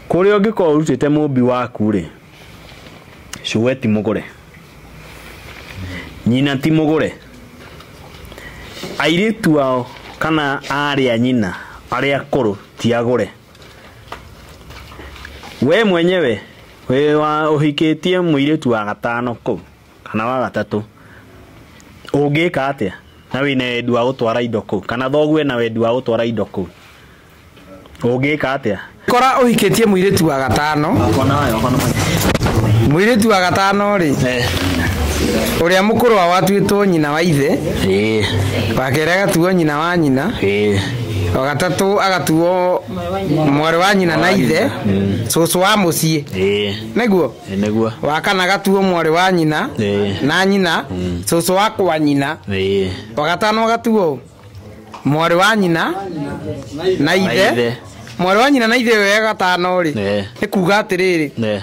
Kũrĩa ũngĩkorwo ũrutĩte mũmbi waku-rĩ, cũwe ti mũgũre, nyina ti mũgũre, airĩtu ao kana aarĩ a nyina arĩa akũrũ ti agũre. Wee mwenyewe wĩ wa ũhikĩtie mũirĩtu wa gatano kũu kana wa gatatũ, ũngĩka atĩa na wĩna wendi wa gũtwara indo kũu kana thoguo ena wendi wa gũtwara indo kũu? ũngĩka atĩa kora ũhikĩtie mũirĩtu wa gatano mũirĩtu wa gatano rĩ ũrĩa mũkũrũ wa watuĩtwo nyina wa ithe wa kerĩ agatuo nyina wa nyina wa gatatũ agatuo mwarĩ wa nyina na ithe cũcũ wa mũciĩ nĩguo nĩguo wa kana agatuo mwarĩ wa nyina Ĩĩ. na nyina cũcũ wa kwa nyina wa gatano agatuo mwarĩ wa nyina na ithe ithe. mwarĩ wa nyina na ithe ũyũ gatano rĩ Eh. nĩ kuga atĩrĩrĩ Eh.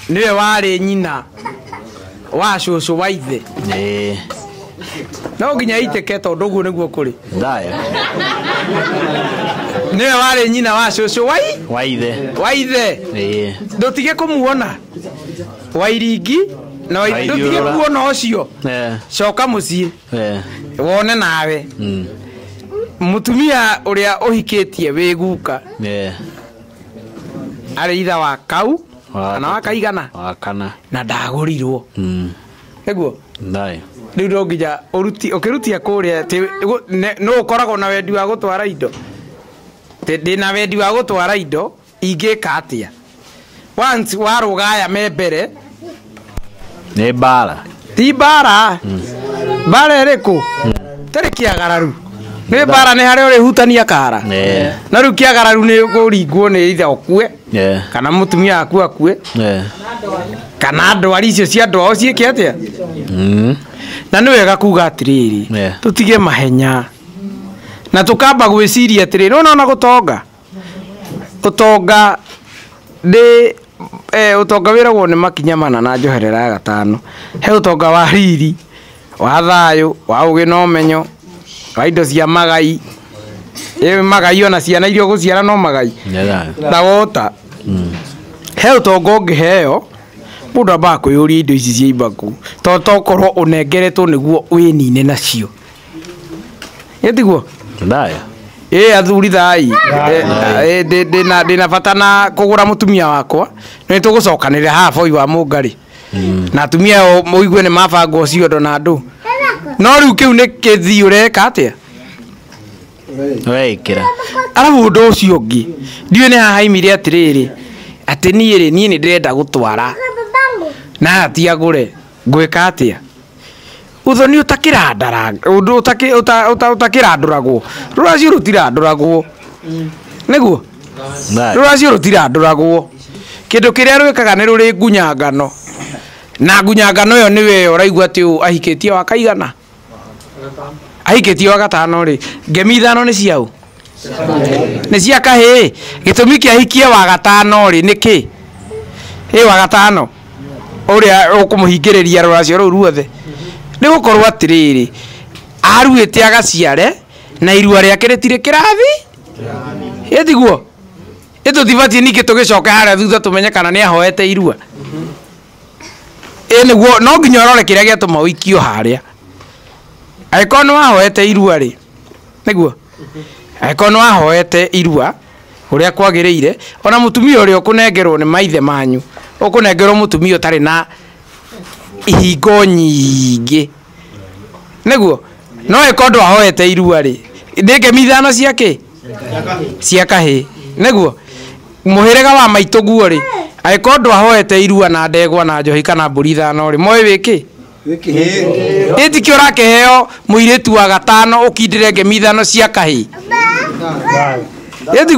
nĩwe warĩ nyina wa cũcũ wa ithe Eh. no nginya itĩke tondũ ũguo nĩguo kũrĩ Thayũ. nĩwe warĩ nyina wa cũcũ wa i- Wa ithe. wa ithe Eh. ndũtige kũmuona wairingi na Waithiũrũra. ndũtige kuona ũcio Eh. coka mũciĩ Eh, wone nawe mm, mutumia uria uhikitie wi guka eh, ari itha wa kau Wa kana wa gatatũ. kaigana wa kana na ndagurirwo Mm, niguo thayo riu no nginya uruti ukirutia kuria ti gu- ne- no ukoragwo na wendi wa gutwara indo Ti- ndina wendi wa gutwara indo Ingĩka atĩa? Once warũga aya me mbere, nĩ mbara ti mbara mbara ĩrĩkũ tarĩ kĩagararu nĩ mbara nĩ harĩa ũrĩhutania kara Eh. na rĩu kĩagararu nĩ kũringwo nĩ ithe ũkue Eh. kana mũtumia waku akue Eh. kana ndwari icio cia andũ ao ciĩke atĩa Mm. na nĩ wega kuga atĩrĩrĩ Yeah. tũtige mahenya na tũkamba gwĩciria atĩrĩrĩ nona ona gũtonga Ũtonga ndĩ, ũtonga wĩragwo nĩ makinya mana na njoherera ya gatano. He ũtonga wa riri, wa thayũ, wa ũgĩ na ũmenyo, wa indo cia magai, ĩĩ magai ona ciana iria ũgũciara no magai? Na wa ũta. He ũtonga ũngĩheo, mũndũ ambaga kwĩyũria indo ici ciaimba kũ, to tokorwo ũnengeretwo nĩguo wĩnine nacio. ĩtiguo ndaya ĩ athuri thai Ĩ, ĩ, ndĩ- ndĩ na- ndĩ na bata na kũgũra mũtumia wakwa nĩ tũgũcokanĩrĩra haha boi wa mũngarĩ na atumia ao mũigue nĩ mabangwo ciondo na andũ no rĩu kĩu nĩ kĩthii ũreka atĩa weikira arabu ũndũ ũcio ũngĩ ndiũĩ nĩ hahaimire atĩrĩrĩ atĩ niĩ rĩ niĩ nĩ ndĩrenda gũtwara na hatiagũre ngwĩka atĩa ũthoni ũtakĩrandũragwo, rũracio rũtirandũragwo, nĩguo? Rũracio rũtirandũragwo, kĩndũ kĩrĩa rwĩkaga nĩ rũrĩngunyangano, na ngunyangano ĩyo nĩyo ĩyo ũraigua atĩ ũyũ ahikĩtie wa kaigana? Ahikĩtie wa gatano rĩ, ngemi ithano nĩ cia ũ? nĩ cia kahĩĩ gĩtũmi kĩa hikie wa gatano rĩ nĩ kĩ ĩ wa gatano ũrĩa ũkũmũhingĩrĩria rũracio rũu ruothe nĩ gũkorwo atĩrĩrĩ aruĩte agaciare na irua rĩake rĩtirĩ kĩrathi ĩ tiguo ĩ tũtibatiĩ ningĩ tũgĩcoke harĩa thutha tũmenye kana nĩ ahoete irua ĩ nĩguo no nginya ũrore kĩrĩa gĩatũma ũikio harĩa angĩkorwo nĩ wahoete irua rĩ nĩguo angĩkorwo nĩ wahoete irua ũrĩa kwagĩrĩire ona mũtumia ũrĩa ũkũnengerwo nĩ maithe manyu ũkũnengerwo mũtumia ũtarĩ na ihingo nyingĩ nĩguo no ĩkorwo ndwahoete irua rĩ nĩ ngemi ithano cia kĩ cia kahĩ nĩguo mũhĩrĩga wa maitũ guo rĩ angĩkorwo ndwahoete irua na ndegwa na njohi kana mbũri ithano rĩ moĩ wĩ kĩ ĩtikĩ ũrakĩheo mũirĩtu wa gatano ũkindĩre ngemi ithano cia kahĩ ĩtiguo